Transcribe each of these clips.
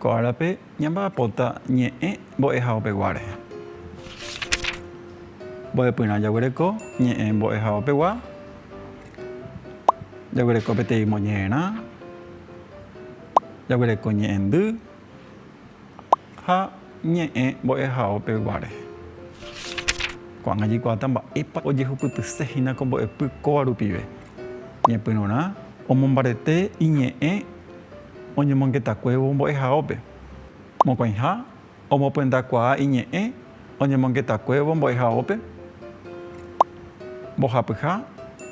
Ko árape ñamba'apóta ñe'ẽ mbo'ehaopegua rehe. Mbo'epyrã jaguereko ñe'ẽ mbo'ehaopegua, jaguereko peteĩ moñe'ẽrã, jaguereko ñe'ẽndy. Ha ñe'ẽ mbo'ehaópe guare, ko'ág̃a jaikuaáta mba'épa ojehupytyse hína ko mbo'epy kóva rupive. Ñepyrũrã omombarete iñe'ẽ oñemongetakuévo mbo'ehaópe. Mokõiha omopyendakuaa iñe'ẽ. Oñemongetakuévo mbo'ehaópe mbohapyha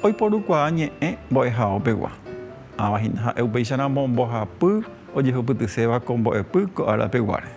oiporukuaa ñe'ẽ mbo'ehaópegua. Ãva hína ha'e upéicharamo mbohapy ojehupytyséva ko mbo'epy ko árapeguáre.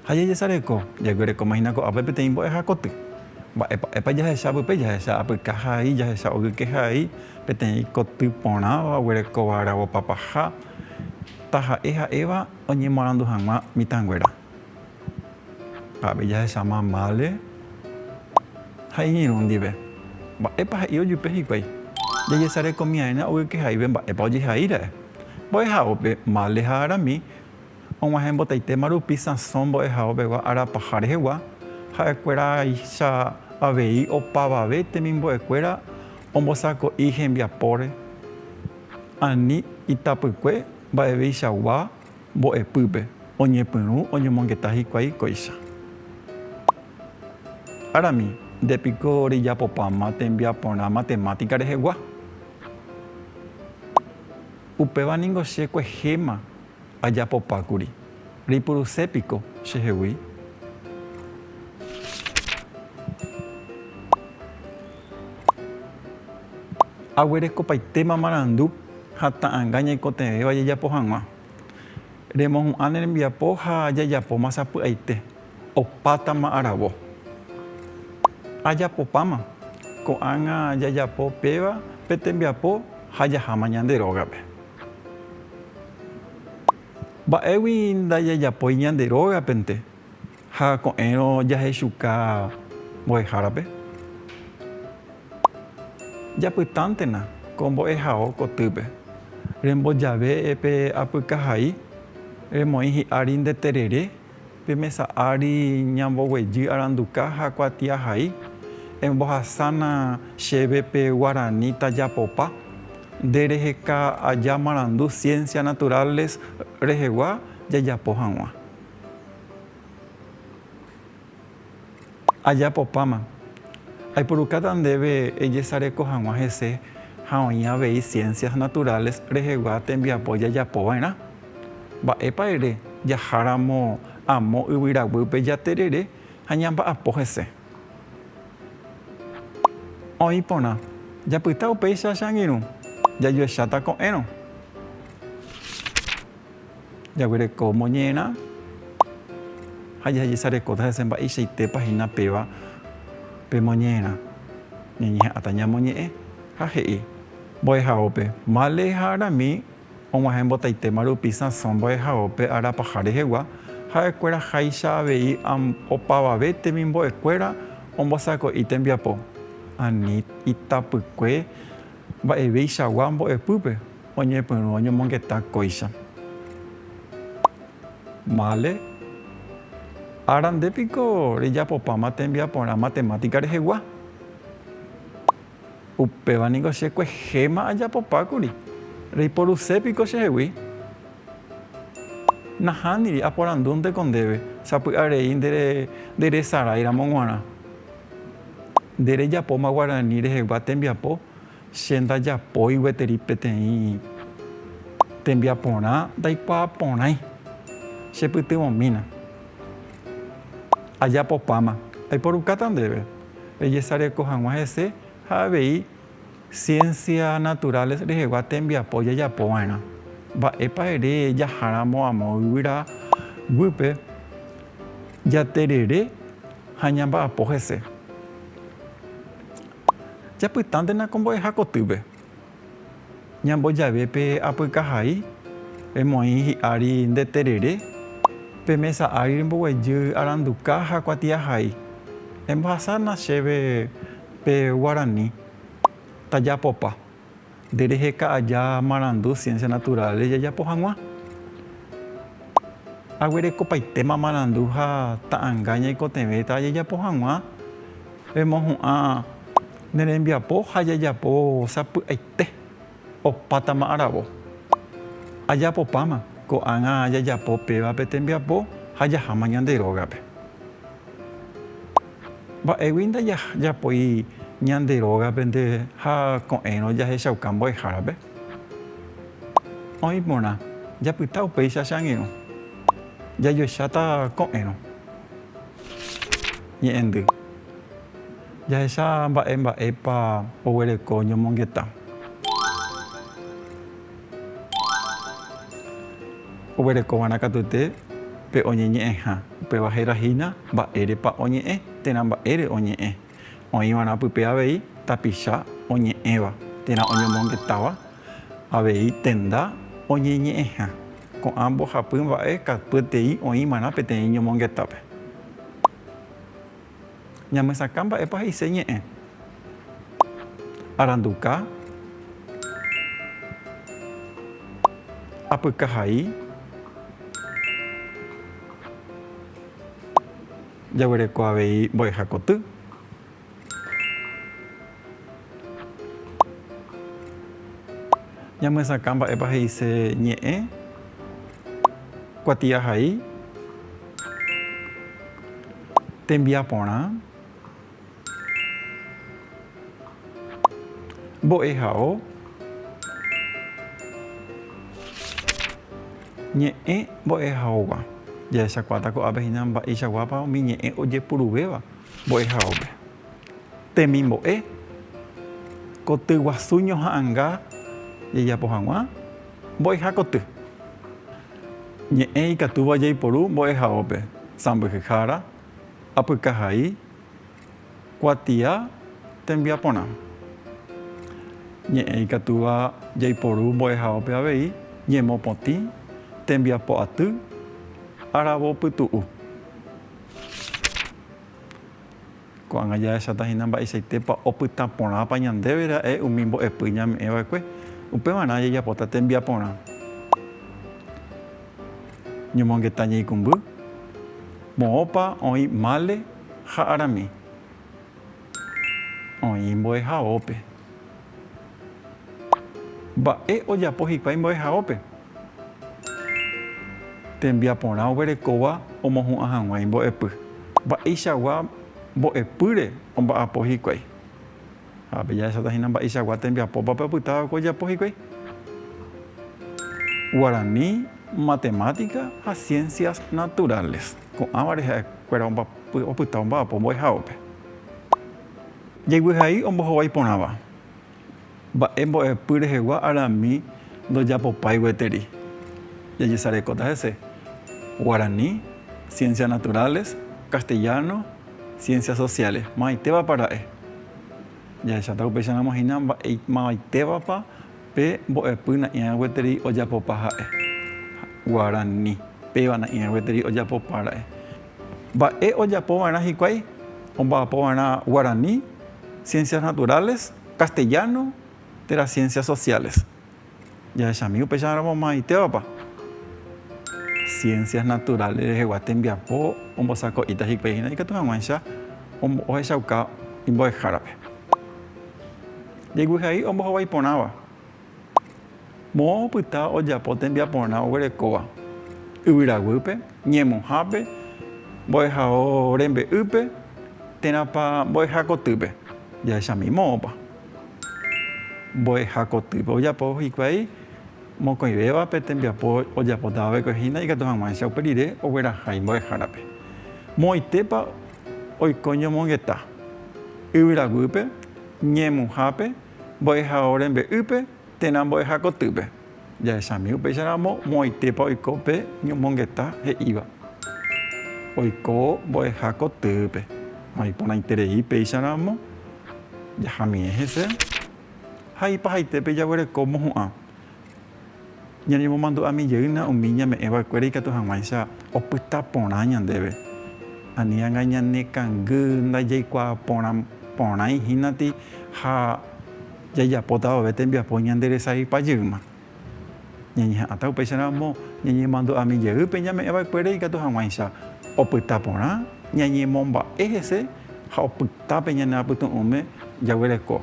Ha jajesareko, jaguerekóma hína ko'ápe peteĩ mbo'eha koty. Mba'épa jahecha pype? Jahecha apyka hai, jahecha ogyke hai, peteĩ koty porãva oguerekóva aravo papaha, taha'e ha'éva. Oñemoarandu hag̃ua mitãnguéra. Avei jahecha mamále ha iñirũ ndive, Mba'épa he'i ojupe hikuái? Jajesarekomi'ãína ogykehaíve mba'épa ojehaíra'e. Mbo'ehaópe mále ha arami, og̃uahẽ mbotaitéma rupi sãso mbo'ehao pegua ára paha rehegua, ha'ekuéraicha avei opavave temimbo'ekuéra ombosako'i hembiapóre ani itapykue, Mba'eveichagua mbo'epýpe oñepyrũ oñomongeta hikuái kóicha. Arami, nde piko rejapopáma tembiaporã matemática rehegua? Upéva ningo che kuehéma ajapopákuri. Reipuruse piko chehegui? Aguerekopaitéma marandu ha ta'anga ñaikotevẽva jajapo hag̃ua. Remohu'ã ne rembiapo ha jajapóma sapy'aite, opátama aravo. Ajapopáma, ko'ág̃a jajapo péva pe tembiapo ha jaháma ñande rógape. Mba'égui ndajajapói ñande rógapente, Ha ko'ẽrõ jahechuka mbo'ehárape. Japytántena ko mbo'ehao kotýpe. Rembojave pe apykahai, remoĩ hi'ári nde terere, pe mesa ári ñamboguejy aranduka ha kuatiahai, embohasána chéve pe guarani tajapopa, nde reheka aja marandu Ciencias Naturales rehegua jajapo hag̃ua. Ajapopáma, aipurukáta ndéve ejesareko hag̃ua hese ha oĩ avei Ciencias Naturales rehegua tembiapo jajapo va'erã. Mba'épa ere jaháramo amo yvyraguýpe jaterere ha ñamba'apo hese? Oĩ porã, japyta upéicha che angirũ, jajuecháta ko'ẽrõ. Jaguereko moñerã ha jajesarekóta hese mba'eichaitépa hína péva pe moñerã. Ñañeha'ãta ñamoñe'ẽ ha he'i. Mbo'ehaópe, Male ha Arami og̃uahẽ mbotaitéma rupi Sansón mbo'ehaópe ára paha rehegua, ha'ekuéra háicha avei opavave temimbo'ekuéra ombosako'i tembiapo, ani itapykue mba'evéichagua mbo'epýpe. Oñepyrũ oñomongeta kóicha. Vale. Ára nde piko rejapopáma tembiaporã matemática rehegua? Upéva niko che kuehéma ajapopákuri. Reiporuse piko chehegui? Nahániri aporandúnteko ndéve, sapy'a rei nde nderesarái ramo g̃uarã. Nde rejapóma guarani rehegua tembiapo Che ndajapói gueteri peteĩ tembiaporã ndaikuaa porãi, chepytyvõmína. Ajapopáma, aiporukáta ndéve rejesareko hag̃ua hese ha avei Ciencia Naturales rehegua tembiapo jajapo va'erã. Mba'épa ere jaháramo amo yvyra guýpe jaterere ha ñamba'apo hese? Japytántena ko mbo'eha kotýpe. Ñambojave pe apykahai, emoĩ hi'ári nde terere, pe mesa ári remboguejy aranduka ha kuatiahai. Embohasa na chéve pe guarani. Tajapopa. Nde reheka aja marandu ciencia natural-re jajapo hag̃ua. Aguerekopaitéma marandu ha ta'anga ñaikotevẽta jajapo hag̃ua, remohu'ã ne rembiapo ha jajapo sapy'aite opátama aravo. Ajapopáma ko'ág̃a jajapo péva pe tembiapo ha jaháma ñande rógape. Mba'égui ndajapói ñande rógape nde ha ko'ẽrõ jahechauka mbo'ehárape? Oĩ porã, japyta upéicha che angirũ. Jajoecháta ko'ẽrõ. Ñe'ẽndy. Jahecha mba'e mba'épa oguereko ñomongeta. Oguerekova'erã katuete pe oñeñe'ẽha. Upéva héra hína mba'érepa oñe'ẽ térã mba'ére oñe'ẽ. Oĩva'erã pype avei tapicha oñe'ẽva térã oñomongetáva avei tenda oñeñe'ẽha. Ko'ã mbohapy mba'e katuetei oĩva'erã peteĩ ñomongetápe. Ñamesakã mba'épa he'ise ñe'ẽ. Aranduka. Apykahai. Jaguereko avei mbo'eha koty. Ñamesakã mba'épa he'ise ñe'ẽ. Kuatiahai. Tembiaporã. Mbo'ehao. Ñe'ẽ mbo'ehaógua. Jahechakuaáta ko'ápe hína mba'eichaguápa umi ñe'ẽ ojepuruvéva mbo'ehaópe. Temimbo'e. Kotyguasu ñoha'ãnga jejapo hag̃ua. Mbo'eha koty. Ñe'ẽ ikatúva jaiporu mbo'ehaópe, sãmbyhyhára, apykahai, kuatia, tembiaporã. Ñe'ẽ ikatúva jaiporu mbo'ehaópe avei, ñemopotĩ, tembiapo aty, aravo pytu'u. Ko'ág̃a jahecháta hína mba'eichaitépa opyta porãpa ñandéve ra'e umi mbo'epy ñame'ẽ va'ekue. Upevarã jajapóta tembiaporã ñomongeta ñeikũmby, moõpa oĩ mále ha arami oĩ mbo'ehaópe. Mba'e ojapo hikuái mbo'ehaópe? Tembiaporã oguerekóva omohu'ã hag̃ua imbo'epy. Mba'eichagua mbo'epýre omba'apo hikuái? Ha pe jahesáta hína mba'eichagua tembiapópa pe opyta va'ekue ojapo hikuái. Guarani, Matemática ha Ciencias Naturales. Ko'ãvare ha'e kuéra opyta omba'apo mbo'ehaópe. Jeiguehai ombohovái porãva. Mba'e mbo'epy rehegua arami ndojapopái gueteri. Jajesarekóta hese, Guarani, Ciencias Naturales, Castellano, Ciencias Sociales, mavaitévapa ra'e? Jahecháta upéicha ramo hína mba'e mavaitévapa pe mbo'epy na'ĩrã gueteri ojapopa ha'e. Guarani, péva na'ĩrã gueteri ojapopa ra'e. Mba'e ojapo va'erã hikuái omba'apo va'erã guarani, ciencias naturales, castellano térã ciencias sociales. Jahechami upéicha ramo maymáitévapa. Ciencias naturales rehegua tembiapo ombosako'íta hikuái hína ikatu hag̃uáicha ohechauka imbo'ehárape. Jeiguy hai ombohovái porãva. Moõ opyta ojapo tembiaporã oguerekóva, yvyraguýpe, ñemuhápe, mbo'ehao rembe'ýpe, térãpa mbo'eha kotýpe. Jahechamíma moõpa mbo'eha kotýpe ojapo hikuái mokõivéva pe tembiapo ojapótava vekove hína ikatu hag̃uáicha upe rire oguerahái mbo'ehárape. Moõitépa oiko ñomongeta, yvyraguýpe, ñemuhápe, Mbo'ehao rembe'ýpe térã mbo'eha kotýpe. Jahechami upéicha ramo moõitépa oiko pe ñomongeta he'íva. Oiko mbo'eha kotýpe. Ha iporãiterei péicha ramo jahamiẽ hese ha ipahaite pe jaguereko mohu'ã. Ñañemomandu'ami jeýna umi ñame'ẽva'ekuéra ikatu hag̃uáicha opyta porã ñandéve. Ani'anga ñanekangy ndajaikuaa porã porãi hínati ha jajapóta vove tembiapo ñanderesaypa jeýma. Ñañeha'ãta upéicharamo ñañemandu'ami jey pe ñame'ẽva'ekuére ikatu hag̃uáicha opyta porã ñañemomba'e hese ha opyta pe ñane apytu'ũme jaguereko.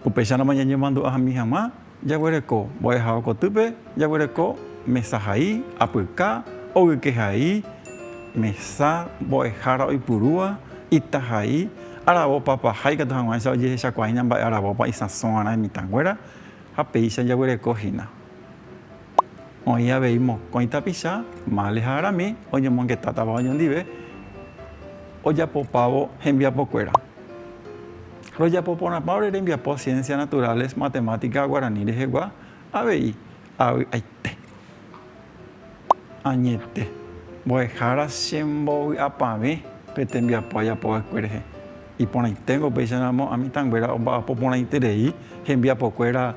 Upéicharamo ñañemandu'ami hag̃ua. Jaguereko mbo'eháva kotýpe, jaguereko mesa hai, apyka, ogyke hai, mesa mbo'ehára oipurúva, ita hai, aravo papa ha ikatu hag̃uáicha ojehechakuaáhína mba'e aravópa isãso g̃uarã imitãnguéra ha péicha jaguereko hína. Oĩ avei mokõi tapicha, mále ha arami, oñomongetátava oñondive ojapopávo hembiapokuéra. Rojapo porãpa ore rembiapo Ciencias Naturales, Matemática Guarani rehegua? Avei, avy'aite. Añete. Mbo'ehára chembovy'apavẽ pe tembiapo ajapo va'ekue rehe. Iporãiténgo upéicha ramo a mitãnguéra omba'apo porãiterei hembiapokuéra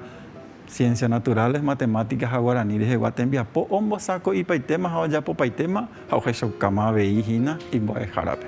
Ciencias Naturales, Matemática ha Guarani rehegua tembiapo ombosako'ipaitéma ha ojapopaitéma ha ohechaukáma avei hína imbo'ehárape.